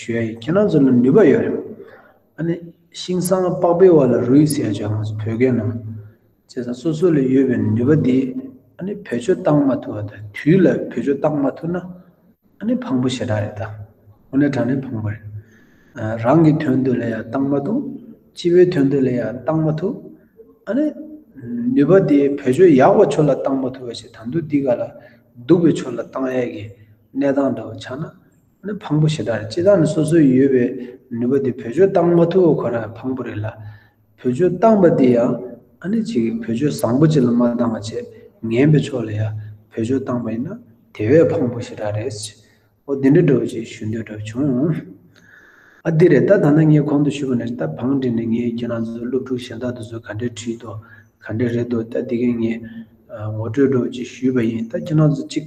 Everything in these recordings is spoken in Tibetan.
ཞུ་ཡ་ཁྱེད་རང་ཚོ་ལ་ནུས་པ་ཡོད་རེད། ཨ་ནི་ཤིང་སང་ལྤགས་པའི་བར་ལ་རུས་ཟེར་ཡ་ང་ཚོ་བོད་སྐད་ནང། བྱས་ཙང་སོ་སོ་ལ་ཡོད་པའི་ནུས་པ་འདི་ཨ་ནི་བེད་སྤྱོད་བཏང་མ་ཐུབ་བ་དང་དུས་ལ་བེད་སྤྱོད་བཏང་མ་ཐུབ་ན་ཨ་ནི་ཕངས་པོ་ཞེ་དྲག་རེད་ད། ཧུ་ནེ་དྲང་ནས་ཕངས་པོ་རེད། རང་གི་དོན་དུ་ལ་ཡ་བཏང་མ་ཐུབ། སྤྱི་བའི་དོན་དུ་ལ་ཡ་བཏང་མ་ཐུབ། ཨ་ནི་ནུས་པ་འདི་བེད་སྤྱོད་ཡག་པ་ཆོ་ལ་བཏང་མ་ཐུབ་བ་ཞིག་ད་འདུག་འདི་ག་ལ་སྡུག་པའི་ཆོ་ལ་བཏང་ཡས་ཀྱི་གནས་སྟངས་འདྲ་བ་ཆགས་ན། ནི་ཕངས་པོ་ཞེ་དྲག་རེད་སྤྱི་བཏང་ནི་སོ་སོའི་ཡོད་པའི་ནུས་པ་དེ་བོད་ཆོས་བཏང་མ་ཐུབ་བ་ཁོ་རང་ཕངས་པོ་རེད་ལ། བོད་ཆོས་བཏང་པ་དེ་ཡང་ཨ་ནི་ཅིག་བོད་ཆོས་བཟང་པོ་ཅིག་ལ་མ་བཏང་བ་ཆེས་ངན་པའི་ཕྱོགས་ལ་ཡ་བོད་ཆོས་བཏང་པ་ཡིན་ན་དེ་བས་ཕངས་པོ་ཞེ་དྲག་རེད། ཨོ་དེ་འདྲ་འདྲ་བོ་ཅིག་ཞུ་འདོད་གྲབས་བྱུང། ཨ་དེ་རེད་ད་ད་ནི་ངས་གོང་དུ་ཞུས་པ་ནི་ད་བང་བྲིས་ནས་ངས་ཁྱེད་རང་ཚོ་སློབ་ཕྲུག་གཞན་དག་ཏུ་ཚོ་ག་འདྲས་བྲིས་འདུག་ག་འདྲས་རེད་འདུག་ད་དེ་གས་ངས་ངོ་སྤྲོད་འགྲོ་བ་ཅིག་ཞུས་པ་ཡིན་ད་ཁྱེད་རང་ཚོ་ཅིག།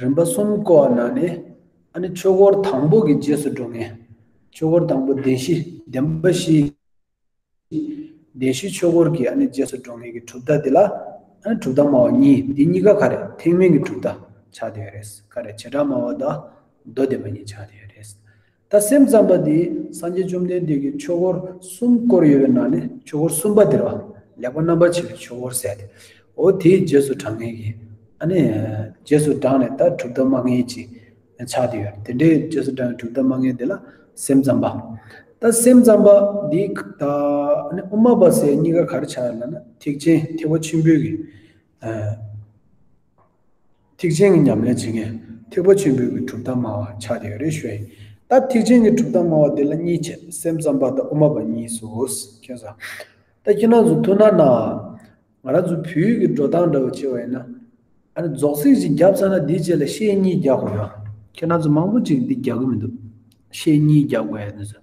རིམ་པ་གསུམ་བསྐོར་བ་ན་ནི། ཨ་ནི་ཆོས་འཁོར་དང་པོ་གི་རྗེས་སུ་འགྲོ་ངེས། ཆོས་འཁོར་དང་པོ་བདེན་བཞི་བདེན་པ་བཞི། བདེན་བཞི་ཆོས་འཁོར་གྱི་ཨ་ནི་རྗེས་སུ་འགྲོ་ངེས་ཀྱི་གྲུབ་མཐའ་འདི་ལ། ཨ་ནི་གྲུབ་མཐའ་སྨྲ་བ་གཉིས་འདི་གཉིས་ཀ་ག་རེ་ཐེག་དམན་གྱི་གྲུབ་མཐའ་ཆགས་དེ་ཡོད་རེད། ག་རེ་བྱེ་བྲག་སྨྲ་བ་དང་མདོ་སྡེ་པ་གཉིས་ཆགས་དེ་ཡོད་རེད། ད་སེམས་ཙམ་པ་འདི་སངས་རྒྱས་བཅོམ་ལྡན་འདས་ཀྱི་ཆོས་འཁོར་གསུམ་བསྐོར་ཡོད་པའི་ནང་ནས་ཆོས་འཁོར་གསུམ་པ་དེར་བ་ལེགས་པ་རྣམ་པར་ཕྱེ་བའི་ཆོས་འཁོར་ཟད་དེ། འོ་དེའི་རྗེས་སུ་དྲང་ངེས་ཀྱི། ཨ་ནི། རྗེས་སུ་འབྲངས་ནས་ད་གྲུབ་མཐའ་མ་ངེས་ཀྱི། ཆགས་དེ་ཡོད། དེ་འདྲའི་རྗེས་སུ་འབྲངས་པའི་གྲུབ་མཐའ་མ་ངེས་དེ་ལ་སེམས་ཙམ་པ། ད་སེམས་ཙམ་པ་འདི་ད་ཨ་ནི་དབུ་མ་པ་སེ་གཉིས་ཀ་ག་རེ་ཆགས་ཡོད་ལ་ན་ཐེག་ཆེན་ཐེག་པ་ཆེན་པོའི་གི་ཐེག་ཆེན་གྱི་ཉམས་ལེན་བྱེད་མཁན་ཐེག་པ་ཆེན་པོའི་གྲུབ་མཐའ་སྨྲ་བ་ཆགས་ཀྱི་ཡོད་རེད་ཞུ་ཡ་ཡིན། ད་ཐེག་ཆེན་གྱི་གྲུབ་མཐའ་སྨྲ་བ་དེ་ལ་གཉིས་བྱེད་སེམས་ཙམ་པ་དང་དབུ་མ་པ་གཉིས་སུ་ཁྱོད་བཟའ། ད་ཁྱེད་རང་ཚོ་ཐུགས་སྣང་གནང་ཨ། ང་རང་ཚོ་བོད་ཡིག་གི་འགྲོ་སྟངས་འདྲ་བོ་བྱེད་པ་ཡིན་ན། ཨ་ནི་རྫོགས་ཚིག་ཅིག་རྒྱབ་ཚར་ན་དེའི་རྗེས་ལ་ཤེས་གཉིས་རྒྱག་དགོས་ན། ཁྱེད་རང་ཚོ་མང་པོ་ཅིག་འདི་རྒྱག་གི་མི་འདུག་ཤེས་གཉིས་རྒྱག་དགོས་ཡ་ནི་ཟེར།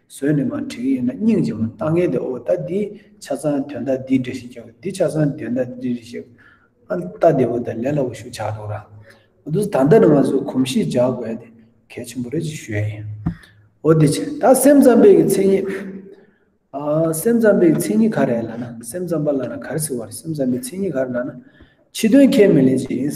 ཟོས་ནས་མ་བྲིས་ཡིན་ན་སྙིང་རྗེ་མོ་ལྟ་ངན་དེ་ཨོ་ལྟ་འདི་ཆ་ཚང་དོན་དག་འདི་འདྲི་ཞིག་ཀྱང་འདི་ཆ་ཚང་དོན་དག་འདི་འདྲི་ཞིག་ཨ་ལྟ་འདི་ཨོ་ལྟ་ལས་ལ་འོ་ཞུགས་ཆགས་འདུག་ར་ཨོ་དུས་ད་ལྟ་ནས་ང་ཚོས་གོམས་གཤིས་འཇགས་དགོས་དེ་གལ་ཆེན་པོ་རེད་ཅེས་ཞུ་ཡ་ཡིན། ཨོ་དེ་བྱས་ད་སེམས་ཙམ་པའི་གི་མཚན་ཉིད། ཨ་སེམས་ཙམ་པའི་གི་མཚན་ཉིད་ག་རེད་ལ་ན་སེམས་ཙམ་པ་ལ་ན་ག་རེ་ཟེར་བ་རེད་སེམས་ཙམ་པའི་མཚན་ཉིད་ག་རེད་ལ་ན་ཕྱི་དོན་ཁས་མི་ལེན་ཅེས་ཡིན།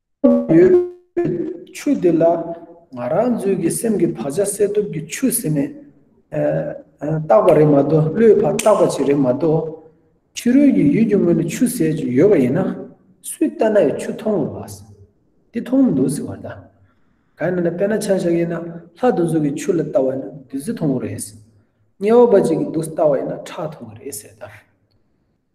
ཁོག་ཡོད་པའི་ཆུ་དེ་ལ་ང་རང་ཚོའི་གི་སེམས་ཀྱི་བག་ཆགས་སེལ་ཐུབ་ཀྱི་ཆུ་ཟེར་ནས་བཏགས་པ་རེད་མ་གཏོགས་བློའི་བར་བཏགས་པ་ཅིག་རེད་མ་གཏོགས། ཕྱི་རོལ་གྱི་ཡུལ་གྱི་ངོས་ནས་ཆུ་ཟེར་གྱི་ཡོད་པ་ཡིན་ན། སུས་ལྟ་ན་ཡང་ཆུ་མཐོང་གི་རེད། འདི་མཐོང་མི་འདུག་ཟེར་བ་དང། གང་ཡིན་ན་དཔེར་ན་ཆང་བཞག་ཡིན་ན་ལྷ་དུ་འཛུགས་ཀྱི་ཆུ་ལ་ལྟ་བ་ཡིན་ན་བདུད་རྩི་མཐོང་གི་རེད། དམྱལ་བ་འབའ་ཅིག་གི་འདུག་ལྟ་བ་ཡིན་ན་ཁྲག་མཐོང་གི་རེད་ཟེར་དང།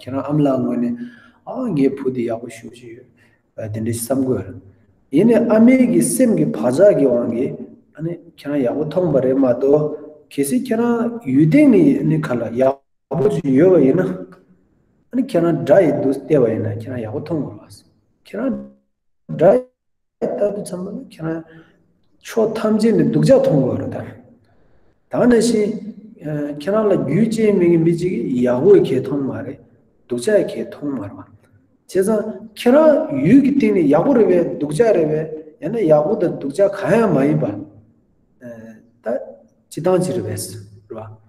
ཁྱེད་རང་ཨམ་ལགས་ངོས་ནས་ཨ་ཨ་ངའི་བུ་འདི་ཡག་པོ་ཞུ་བཞིན་ཡོད་དེ་འདྲའི་བསམ་དགོས། ཡིན་ནས་ཨ་མའི་གི་སེམས་ཀྱི་བག་ཆགས་ཀྱི་དབང་གིས་ཨ་ནི་ཁྱེད་རང་ཡག་པོ་མཐོང་པ་རེད་མ་གཏོགས་གལ་སྲིད་ཁྱེད་རང་ཡུལ་སྡེ་ནས་ཨ་ནི་ག་ལ་ཡག་པོ་ཞིག་ཡོད་པ་ཡིན་ན་ཨ་ནི་ཁྱེད་རང་དགྲ་ཡི་འདུག་ལྟས་པ་ཡིན་ན་ཁྱེད་རང་ཡག་པོ་མཐོང་དགོས། ཁྱེད་རང་དགྲ་ད་དུ་ཚང་མ་ཁྱེད་རང་ཕྱོགས་ཐམས་ཅད་ནས་སྡུག་ཅག་མཐོང་དགོས་རེད་དམ། ད་ནང་བཞིན་ཁྱེད་རང་ལ་རྒྱུས་ཅན་མི་གི་མི་གཅིག་གིས་ཡག་པོ་གས་མཐོང་མ་རེད་སྡུག་ཅག་གས་མཐོང་མ་རེད། བྱས་ཙང་ཁྱེད་རང་ཡུལ་གི་སྟེང་ནས་ཡག་པོ་རེད་བས་སྡུག་ཅག་རེད་བས་ཡང་ན་ཡག་པོ་དང་སྡུག་ཅག་གང་ཡང་མ་ཡིན་པ། ད་ཅི་སྟངས་ཅི་རེད་བས་རེད་བ།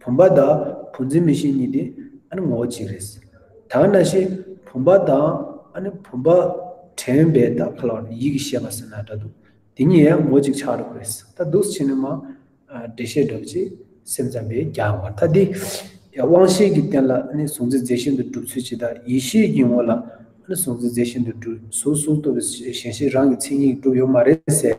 བུམ་པ་དང་བུ་འཛིན་མི་ཤེས་གཉིས་དེ་ངོ་བོ་གཅིག་རེད། དག་ན་ཤེས་བུམ་པ་དང་བུམ་པ་དྲན་པའི་དག་ཁ་ལ་ཡིད་ཀྱི་ཤེས་པ་ཟེར་ན་འདྲ་འདུག་དེ་གཉིས་ཡང་ངོ་གཅིག་ཆགས་རོགས་རེད་ད་འདུག་ཕྱི་ནི་མ་འདྲེ་ཤེས་སྒྲུབ་ཅེས་སེམས་ཙམ་པས་རྒྱག་མ་ཐག་དེ་དབང་ཤེས་ཀྱི་རྟེན་ལ་གཟུང་འཛིན་རྫས་ཤིན་ཏུ་གྲུབ་ཚུལ་ཇི་ལྟར་ཡིད་ཤེས་ཀྱི་ངོ་ལ་གཟུང་འཛིན་རྫས་ཤིན་ཏུ་གྲུབ་གཟུགས་གཟུགས་སྟོབས་པའི་ཞེན་ཤེས་རང་གི་མཚན་ཉིད་གྲུབ་ཡོད་མ་རེད་ཟེར།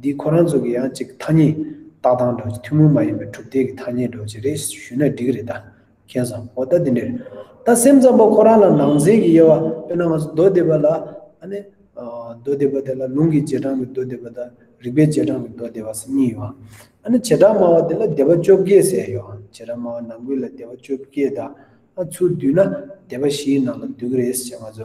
འདི་ཁོ་རང་ཚོ་གི་ཡང་གཅིག་ཐ་སྙད། རྟགས་དང་སྒྲོག་བྱེད་ཐུན་མོང་མ་ཡིན་པའི་གྲུབ་མཐའི་གི་ཐ་སྙད་སྒྲོག་བྱེད་རེད་ཞུས་ན་འགྲིག་རེད་ད། མཁྱེན་བཟང་པོ་ད་འདི་འདྲས་རེད་ད་སེམས་ཙམ་པོ་ཁོ་རང་ལ་ནང་ཚན་གི་དབྱེ་བ་དཔེར་ན་ང་ཚོ་མདོ་སྡེ་པ་ལ་ཨ་ནི། མདོ་སྡེ་པ་དེ་ལ་ལུང་གི་རྗེས་འབྲང་གི་མདོ་སྡེ་པ་དང་རིགས་པའི་རྗེས་འབྲང་གི་མདོ་སྡེ་བ་སེ་གཉིས་ཡོད་ཨང། ཨ་ནི་བྱེ་བྲག་སྨྲ་བ་དེ་ལ་སྡེ་པ་བཅོ་བརྒྱད་ཟེར་ཡོད་ཨང་བྱེ་བྲག་སྨྲ་བ་ནང་ཁུལ་ལ་སྡེ་པ་བཅོ་བརྒྱད་དང། ཨ་ཚུར་བསྡུས་ན་སྡེ་པ་བཞིའི་ནང་ལ་འདུས་གི་རེད་ཅེས་ང་ཚོ་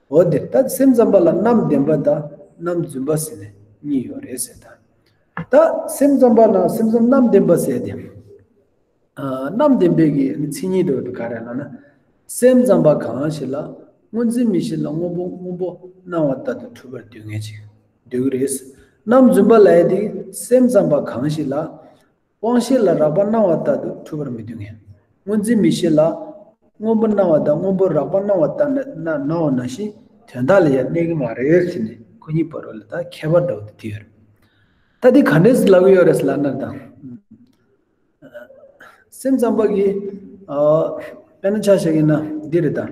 འོ་དེ་ལྟ་སེམས་ཙམ་པ་ལ་རྣམ་བདེན་པ་དང་རྣམ་བརྫུན་པ་ཟེར་ནས་གཉིས་ཡོད་རེད་ཟེར་ད། ད་སེམས་ཙམ་པ་ན་སེམས་ཙམ་རྣམ་བདེན་པ་ཟེར་ཏེ། རྣམ་བདེན་པའི་གི་མཚན་ཉིད་དུ་ག་རེ་ལ་ན། སེམས་ཙམ་པ་གང་ཞིག་ལ་སྔོ་འཛིན་མི་ཞིག་ལ་སྔོ་བོ་སྔོན་པོ་སྣང་བ་ལྟར་དུ་འཁྲུལ་པར་སྡུད་ངེས་ཅིག་འདུག་རེད། རྣམ་བརྫུན་པ་ལ་ཡ་དེ་སེམས་ཙམ་པ་གང་ཞིག་ལ། དབང་ཤེས་ལ་རགས་པ་སྣང་བ་ལྟར་དུ་འཁྲུལ་པར་མི་བསྡུ་ངེས། སྔོ་འཛིན་མི་ཤེས་ལ། སྔོན་པོ་སྣང་བ་དང་སྔོན་པོ་རགས་པ་སྣང་བ་ལྟར་ན་ནའོ་ན་བཞིན་དོན་དག་ལ་ཡང་གནས་ཀྱི་མ་རེད་ཟེར་ནས་ཁོ་གཉིས་བར་བའི་ལ་དག་ཁྱད་པར་འདྲ་བོ་དེ་དེ་ཡོད་རེད། ད་དེ་ག་འདྲའི་ལ་གོ་ཡོད་རེད་ཟེར་ལ་ནར་དང། སེམས་ཙམ་པ་གིས། དཔེར་ན་ཆ་བཞག་ཡིན་ན་འདི་རེད་ད།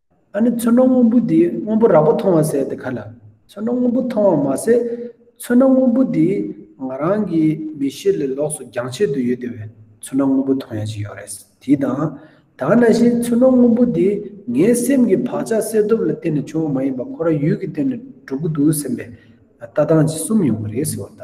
ཨ་ནི་ཚོན་སྣ་སྔོན་པོ་དེས་སྔོན་པོ་རགས་པ་མཐོང་བ་ཟད་དེ་ག་ལ། ཚོན་སྣ་སྔོན་པོ་མཐོང་བ་མ་ཟད། ཚོན་སྣ་སྔོན་པོ་དེ་ང་རང་གི་མི་ཤེས་ལས་ལོགས་སུ་རྒྱང་ཆད་དུ་ཡོད་དེ་བས་ཚོན་སྣ་སྔོན་པོ་མཐོང་ཡ་ཅིག་ཡོད་རེད། དེས་དང། དག་ན་བཞིན་ཚོན་སྣ་སྔོན་པོ་དེ་ངའི་སེམས་ཀྱི་བག་ཆགས་སེལ་སྟོབས་ལ་བརྟེན་ནས་བྱུང་བ་མ་ཡིན་པར་ཁོ་རང་ཡུལ་གྱི་སྟེང་ནས་གྲུབ་ཀྱི་འདུག་སེམས་པའི་ལྟ་སྟངས་ཀྱིས་གསུམ་ཡོང་གི་རེད་ཟེར་བ་ལྟ།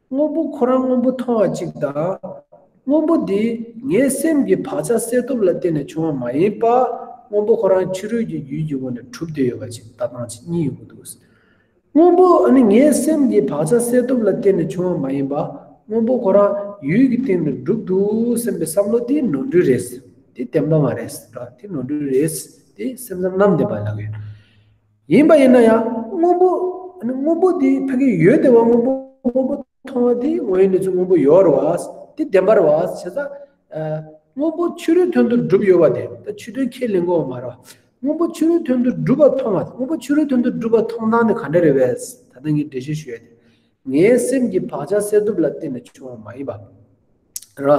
དངོས་པོ་ཁོ་རང་དངོས་པོ་མཐོང་བ་གཅིག་དང། དངོས་པོ་དེ་ངའི་སེམས་ཀྱི་བག་ཆགས་སད་སྟོབས་ལ་བརྟེན་ནས་བྱུང་བ་མ་ཡིན་པར་དངོས་པོ་ཁོ་རང་ཕྱི་རོལ་གྱི་ཡུལ་གྱི་སྒོ་ནས་གྲུབ་སྡོད་ཡོད་པ་གཅིག་ལྟ་སྟངས་གཅིག་གཉིས་ཡོད་པོ་འདུག། དངོས་པོ་ནི་ངའི་སེམས་ཀྱི་བག་ཆགས་སད་སྟོབས་ལ་བརྟེན་ནས་བྱུང་བ་མ་ཡིན་པར་དངོས་པོ་ཁོ་རང་ཡུལ་གྱི་སྟེང་ནས་གྲུབ་འདུག་སེམས་པའི་བསམ་བློ་དེ་ནོར་འཁྲུལ་རེད། དེ་བདེན་པ་མ་རེད། དེ་ནོར་འཁྲུལ་རེད། དེ་སེམས་ཙམ་ནམ་བདེན་པ་ལགས་ཡོད། ཡིན་པ་ཡིན་ན་ཡང་སྔོན་པོ་སྔོན་པོ་དེ་ཕ་གི་ཡོད་དེ་བ་སྔོན་པོ་སྔོན་པོ་མཐོང་བ་དེ་དངོས་ཡོད་ནས་ཚུལ་སྔོན་པོ་ཡོད་ར་བ་དེ་བདེན་པར་བ་བྱེད་ས་སྔོན་པོ་ཕྱི་རོལ་དོན་དུ་སྒྲུབ་ཡོད་བ་དེ་ད་ཆུ་དོན་ཁས་ལེན་གོ་བ་མ་ར་བ་སྔོན་པོ་ཕྱི་རོལ་དོན་དུ་སྒྲུབ་པ་མཐོང་བ་དངོས་པོ་ཕྱི་རོལ་དོན་དུ་སྒྲུབ་པ་མཐོང་སྟངས་ནི་ག་འདྲ་རེད་བས་ད་ལྟ་ངས་འགྲེལ་བཤད་ཞུ་ཡ་དེ། ངའི་སེམས་ཀྱི་བག་ཆགས་སད་སྟོབས་ལ་བརྟེན་ནས་བྱུང་བ་མ་ཡིན་པ། ར།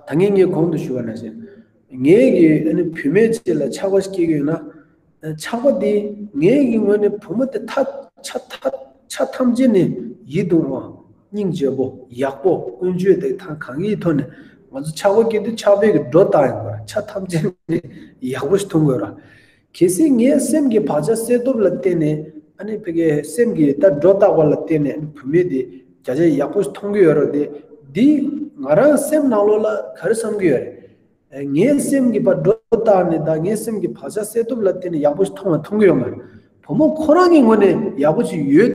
ད་ངས་ངའི་གོང་དུ་ཞུ་བ་ན་ཟེར། ངའི་གི་བུད་མེད་ཅིག་ལ་ཆགས་པ་སྐྱེས་ཀྱི་ཡོད་ན། ཆགས་པ་དེས་ངའི་གི་ངོས་ནས་བུ་མོ་དེ་ཐག་ཆ་ཆ་ཐམས་ཅད་ནས་ཡིད་དུ་འོང། སྙིང་རྗེ་བོ། ཡག་པོ། ཀུན་སྤྱོད་དེ་ཐང་གང་གིས་ཐོག་ནས་ང་ཚོ་ཆགས་པ་སྐྱེས་དུས་ཆགས་པའི་གི་སྒྲོ་བཏགས་ཡིན་པར་ཆ་ཐམས་ཅད་ནས་ཡག་པོ་ཞིག་འཐུང་དགོས་ར། གལ་སྲིད་ངས་སེམས་ཀྱི་བག་ཆགས་སེལ་སྟོབས་ལ་བརྟེན་ནས་ཨ་ཕ་གི་སེམས་ཀྱི་ལྟ་འགྲོ་བརྟག་པ་ལ་བརྟེན་ནས་བུད་མེད་དེ་བརྒྱ་ཆ་ཡག་པོ་མཐོང་གི་ཡོད་རོགས་དེ་འདིས་ང་རང་སེམས་ནང་ལོགས་ལ་ག་རེ་བསམ་གི་ཡོད་རེད། ངས་སེམས་ཀྱི་བག་འགྲོ་བརྟག་ནས་ད་ངས་སེམས་ཀྱི་བག་ཆགས་སེལ་སྟོབས་ལ་བརྟེན་ནས་ཡག་པོ་ཞིག་མཐོང་བ་མཐོང་གི་ཡོད་མ་རེད། བུ་མོ་ཁོ་རང་གི་ངོས་ནས་ཡག་པོ་ཞིག་ཡོད།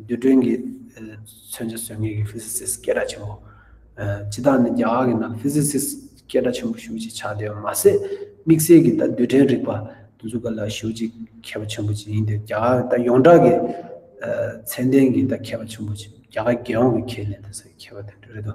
རྡུལ་ཕྲན་གྱི་མཚོན་བྱ་ཟོལ་ངེས་ཀྱི Physicist སྐད་གྲགས་ཆེན་པོ། སྤྱི་དག་ནི་རྒྱ་གར་གྱི་ནང Physicist སྐད་གྲགས་ཆེན་པོ་ཞུགས་ཅིག་ཆགས་བསྡད་པ་མ་ཟད་དམིགས་བསལ་གྱིས་ད་རྡུལ་ཕྲན་རིག་པ་འཛུགས་པ་ལ་ཞུགས་ཅིག་མཁས་པ་ཆེན་པོ་ཅིག་ཡིན་ཏེ་རྒྱ་གར་ད་ཡོངས་གྲགས་ཀྱི་ཚད་ལྡན་གྱི་ད་མཁས་པ་ཆེན་པོ་ཅིག་རྒྱ་གར་རྒྱལ་ཡོངས་ཀྱི་ཁྱེད་ནས་ད་ཟེར་མཁས་པ་དེ་འདྲ་རེད་དོ།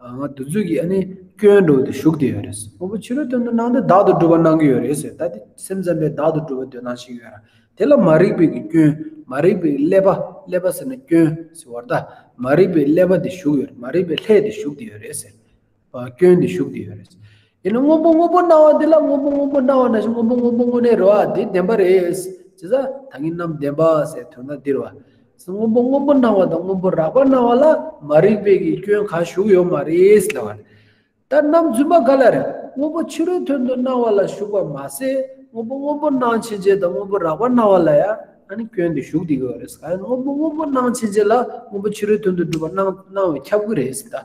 ང་དུས་ཚོད་ཀྱིས་ཨ་ནི་སྐྱོན་འགྲོ་དེ་ཞུགས་དེ་ཡོད་རེད་ཟེར་ཕོ་བོ་ཕྱི་རོལ་དོན་དུ་ནང་དེ་བདག་ཏུ་སྒྲུབ་པ་གནང་གི་ཡོད་རེད་ཟེར་ད་དེ་སེམས་ཙམ་པས་བདག་ཏུ་སྒྲུབ་པ་འདོད་སྟངས་ཤིག་ཡོད་ར་དེ་ལ་མ་རིག་པའི་གི་སྐྱོན་མ་རིག་པའི་ཀླད་པ་ཀླད་པ་ཟེར་ན་སྐྱོན་ཟེར་བར་ད་མ་རིག་པའི་ཀླད་པ་དེ་ཞུགས་ཡོད་རེད་མ་རིག་པའི་ལྷད་དེ་ཞུགས་དེ་ཡོད་རེད་ཟེར་བ་སྐྱོན་དེ་ཞུགས་དེ་ཡོད་རེད། དེ་ནི་སྔོན་པོ་སྔོན་པོ་སྣང་བ་འདི་ལ་སྔོན་པོ་སྔོན་པོ་སྣང་བ་ན་ཞིག་སྔོན་པོ་སྔོན་པོ་དངོས་གནས་རོ་ཨ་འདི་བདེན་པ་རེད། ཇི་ལྟར་ད་གིན་ནམ་བདེན་པ་ཟེར་དོན་དག་འདིར་བ། སྔོན་པོ་སྔོན་པོ་སྣང་བ་དང་སྔོན་པོ་རགས་པ་སྣང་བ་ལ་མ་རིག་པའི་གི་སྐྱོན་གང་ཞུགས་ཡོད་མ་རེད་ཟེར་བ། ད་ནམ་རྫུན་མ་ག་ལ་རེད་སྔོན་པོ་ཕྱི་རོལ་དོན་དུ་སྣང་བ་ལ་ཞུགས་པ་མ་ཟད་སྔོན་པོ་སྔོན་པོ་སྣང་ཕྱིན་ཆད་དང་སྔོན་པོ་རགས་པ་སྣང་བ་ལ་ཡང་ནི་སྐྱོན་དེ་ཞུགས་དེ་གི་བ་རེད། གང་ཡིན་སྔོན་པོ་སྔོན་པོ་སྣང་ཕྱིན་ཆད་ལ་སྔོན་པོ་ཕྱི་རོལ་དོན་དུ་སྒྲུབ་པ་སྣང་སྣང་བའི་ཁྱབ་ཀི་རེད་ཟེར་ད།